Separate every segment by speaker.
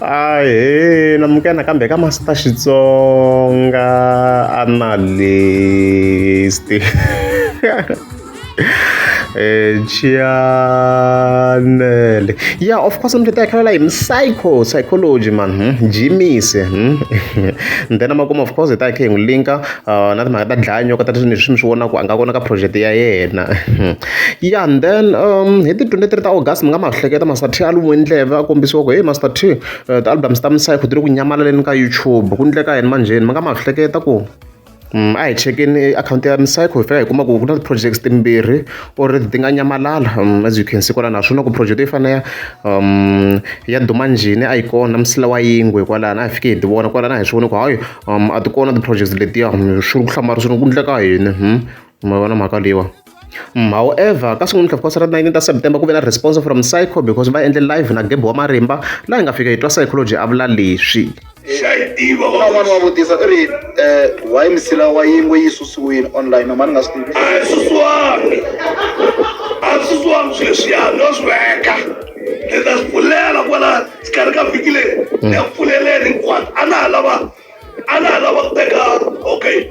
Speaker 1: Ahee namuka nakambe ka Master Xitsonga analyst eh Chianele yeah of course mthetho yakhe la yini psycho psychology man hmm? jimise hmm? then amakuma of course ta yakhe hi n'wi linka uh, na timhaka ta dlaya nyoka ta leswi ni swi vona ku a nga vona ka project ya yena Ya and then hi ti twenty three ta August mi nga ma hleketa Master T a lumiwe ndleve a kombisiwa ku heyi Master T ti-albums ta misava ti le ku nyamalaleni ka YouTube ku endleka yini manjheni mi nga ma hleketa ku a hi chekeni akhawunti ya hi fika hi kuma ku ku na ti-projects timbirhi or ti nga nyamalala as you can see kwalano a swi vula ku project yo fana ya ya duma njhini a yi kona msila wa yingwe kwalano a hi fike hi ti vona kwalano a hi swi vona ku hayi a ti kona ti-projects letiya swi ri ku hlamala swi ri ku endleka yini . ma vona mhaka leyiwa however ka sungula tlhava ra 19 ta september ku ve na response from psycho because va endle live na gebo wa marimba laha hi nga fika hi twa psychology a vula leswi un'wana
Speaker 2: wa vutisa i ri um why misila wa yingwe yi susiwile online nomani nga swi tivi a swi swami
Speaker 3: a swi swami sweswiya no swi veka ni ta swi pfulela kwala xikarhi ka vhiki leri ni ya pfuleleni hinkwato a na ha lava a na ha lava ku teka okay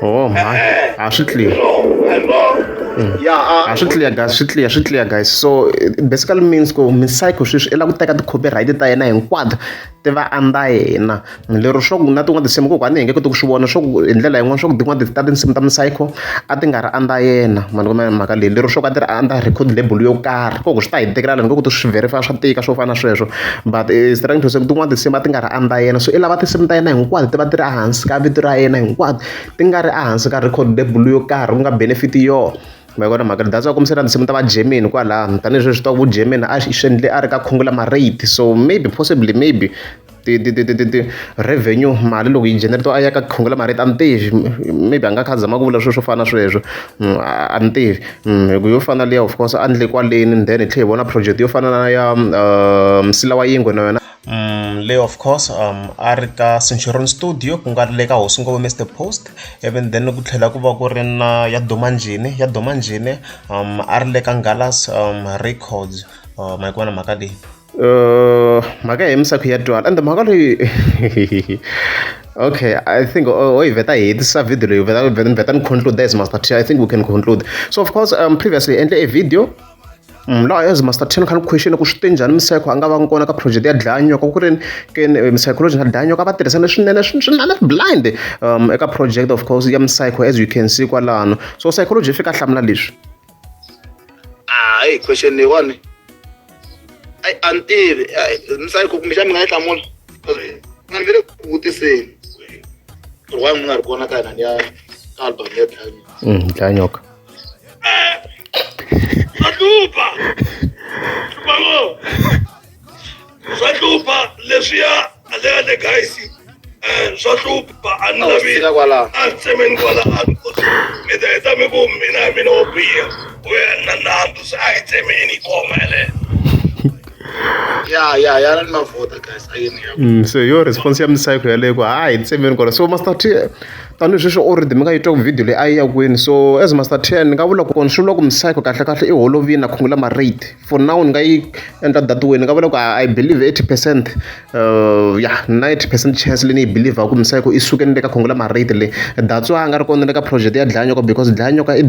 Speaker 3: Oh my.
Speaker 1: Ah, swi clear.
Speaker 2: Ah, swi clear guys, swi clear, swi
Speaker 1: clear guys. So basically means ku Misaico sweswi i lava ku teka ti-copyright ta yena hinkwato ti va andza yena. Lero swa ku na tin'wana tinsimu kokwana hi nge koti ku swi vona swa ku hi ndlela yin'wana swa ku tin'wana ta tinsimu ta Misaico a ti nga ri andza yena. Ma ni kuma mhaka leyi. Lero swa ku a ti ri andza record label yo karhi. Ko ku swi ta hi tikela loko ni ku swi verify swa tika swo fana na sweswo. but eh, is trying to say tin'wana tinsimu va ti nga ri under yena so i lava tinsimu ta yena hinkwato ti va ti ri ehansi ka vito ra yena hinkwato ti nga ri ehansi ka record label yo karhi ku nga benefit yo ma vona mhaka ni data va kombisela tinsimu ta va germany kwalano tanihileswi swi ku germany a swi endle a ri ka khungula marate so maybe possibly maybe ti ti ti ti ti revenue mali loko yi generate a ya ka khungula marate a ni tivi maybe a nga kha a zama ku vula swilo swo fana na sweswo mm, a ni tivi hi ku yo fana na liya of course a ni le kwaleni and then hi tlhela hi vona project yo fana na ya msila wa yingwe na yona le of course um a ri ka centurion studio ku nga ri le ka hosi ngopfu mr post even then ku tlhela ku va ku ri na ya domanjhini ya domanjhini um a ri le ka ngalas um records ma yi ku vona mhaka leyi Uh, mhaka ya misakhu ya twala ende mhaka leyi okay i think oh, oh veta hi hetisa video leyi veta veta ni conclude as master t i think we can conclude so of course um previously endle a video mm, laha as master ten kha ni question ku swi te njhani misayikho a nga va kona ka project ya dlanyoka ku ri ke misayikoloji na dlanyoka va tirhisane swinene swinene blind um eka project of course ya misayikho as you can see kwalano so psychology yi fika hlamula leswi ah hey
Speaker 2: question leyiwani ayi a ni tivi ni sayi ku kumbexani mi nga yi hlamula nga ni ve le ku vutiseni ri wa mi nga ri kona ka hina ni ya ka album ya
Speaker 1: dlanyoka
Speaker 3: mm, swa hlupha leswiya aleyale guys um swa hlupha a ni lavi a tsemeni kwalaha mi ta heta mi ku mina mina wo biha u ya na nandzu se a hi tsemeni khoma yaleyo ya
Speaker 2: ya ya ni mavota guys ayini ya mm, so yo response ya
Speaker 1: misayiko yaleyo ku ha hi tsemeni kona so master t tanihi sweswi o rhythm nga yi twa ku video leyi a yi ya kwini so as master t ni nga vula ku kona swi vula ku misayiko kahle kahle i holovini a khungula marate for now ni nga yi endla data wini ni nga vula ku i believe eighty percent uh, ya na eighty percent chance leyi ni yi believe ku misava ku i suke ni le ka khongo la marate le that's why a nga ri kona le ka project ya dlayanyoka because dlayanyoka i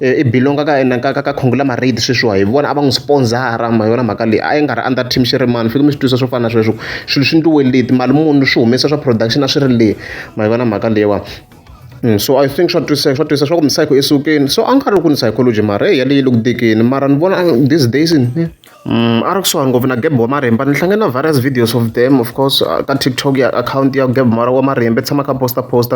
Speaker 1: eh, i belonga ka ena ka ka khongo la marate sweswiwa hi vona a va n'wi sponsora ma yona mhaka leyi a yi nga ri under team xi ri mani fike mi swi twisa swo fana na sweswo swilo swi ndliwe leti mali munhu swi humesa swa production a swi ri le ma yona mhaka leyiwa so I think swa twisa swa twisa swa ku misava yi sukile so a ni karhi ku ni psychology mara heyi yaleyo yi le ku tikeni mara ni vona this days a ri kusuhani ngopfu na Geb wa marimba ni hlangane na various videos of them of course ka TikTok ya akhawunti ya Geb wa marimba i tshama a kha a post a post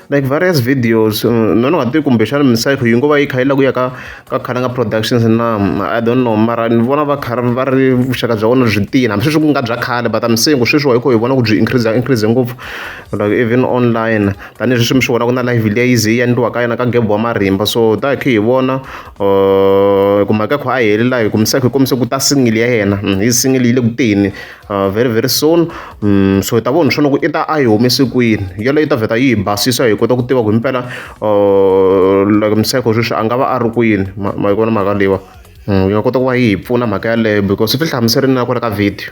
Speaker 1: like various videos ni nga tivi kumbexana misava yi ngo va yi kha yi lava ku ya ka ka Khalanga productions na I don't know mara ni vona va karhi va ri vuxaka bya vona byi tiyile hambi sweswi ku nga bya khale but I'm saying ku sweswi wa hi kha hi vona ku byi increase increase ngopfu. like even online tanihileswi mi swi vona ku na live leyi ze yi endliwaka yona ka gebo wa marimba so ta hi khe hi vona uh, ku mhaka kho a heli laha hi kumisa hi kombise ku ta singili ya yena mm, hi singili yi le ku teni uh, very very soon mm, so hi ta vona swona ku i ta a yi humese kwini yeleyo yi ta vheta yi hi basisa hi kota ku tiva ku hi mpela uh, like miseko sweswi a nga va a ri kwini ma yi vona mhaka leyiwa mm, yi nga kota ku va yi hi pfuna mhaka yaleyo because swi fi hlamuserini na ku ri ka video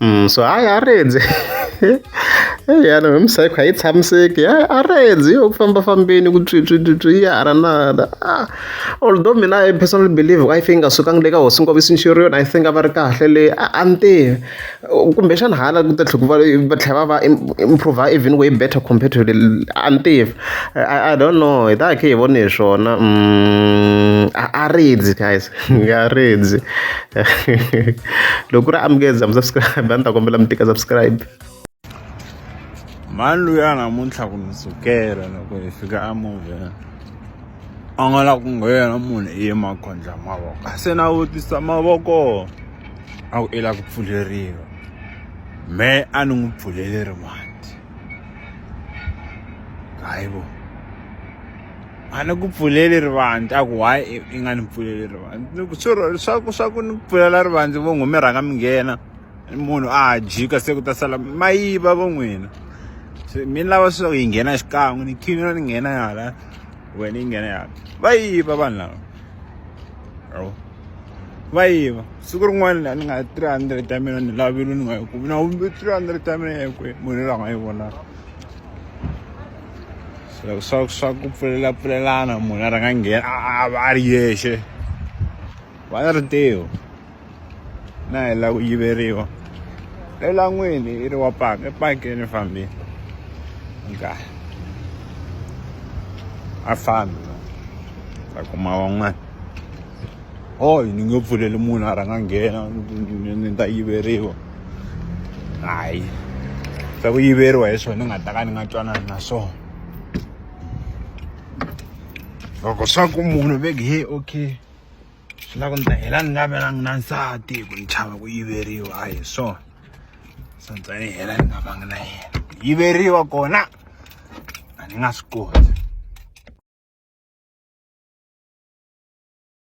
Speaker 1: Mm, so hayi a rindze yana hi misayikho a yi tshamiseki hayi a rindze yo ku famba fambeni ku tswitswitswitswi yi hala na hala ah, although mina i personally believe i think a sukangi le ka hosi nkovo sinxeri yona i think a va ri kahle leyi a ni tivi kumbexana hala ku ta tlhela ku va va tlhela va va improve even way better compared to a ni tivi i don't know hi ta hi khe hi vone hi swona mm, a rindze guys nga redzi loko ku ri amukeza mi subscribe a ni ta kombela mi tika subscribe
Speaker 4: mhani loyi a namuntlha ku ni sukela loko hi fika a movheni a nga la ku nghena munhu i ye makhondla mavoko se na vutisa mavoko a ku i la ku pfuleriwa me a ni n'wi pfuleli rimati hayi vo a ni ku pfuleli rivandla a ku why i nga ni pfuleli rivandla swirho swa ku swa ku ni pfulela rivandla vo n'wi mi rhanga mi nghena munhu a jika se ku ta sala ma yiva vo n'wina se mi lava swa ku yi nghena xikan'we ni khina ni nghena hala wena yi nghena hala va yiva vanhu lava yabo va yiva siku rin'wana ni nga three hundred ya mina ni lavile ni nga yi kumi na three hundred ya mina ya kwihi munhu loyi a nga yi vonaka swa swa swa ku pfulela pfulelana munhu a rhanga nghena a va a ri yexe va na rintiho na hi la ku yiveriwa elangwini i ri wa paka epakeni fambile nkahi a fambi ta kuma van'wana hoyi ni nge pfuleli munhu a rhanga nghena ni ta yiveriwa hayi swa ku yiveriwa hi swona ni nga ta ka ni nga twanani na swona loko swa ku munhu veke he okay swi lava ku ni ta hela ni nga velangi na nsati hi ku ni chava ku yiveriwa a hi swona so ni tsani hela ni nga vangi na yena ku yiveriwa kona a ni nga swi koti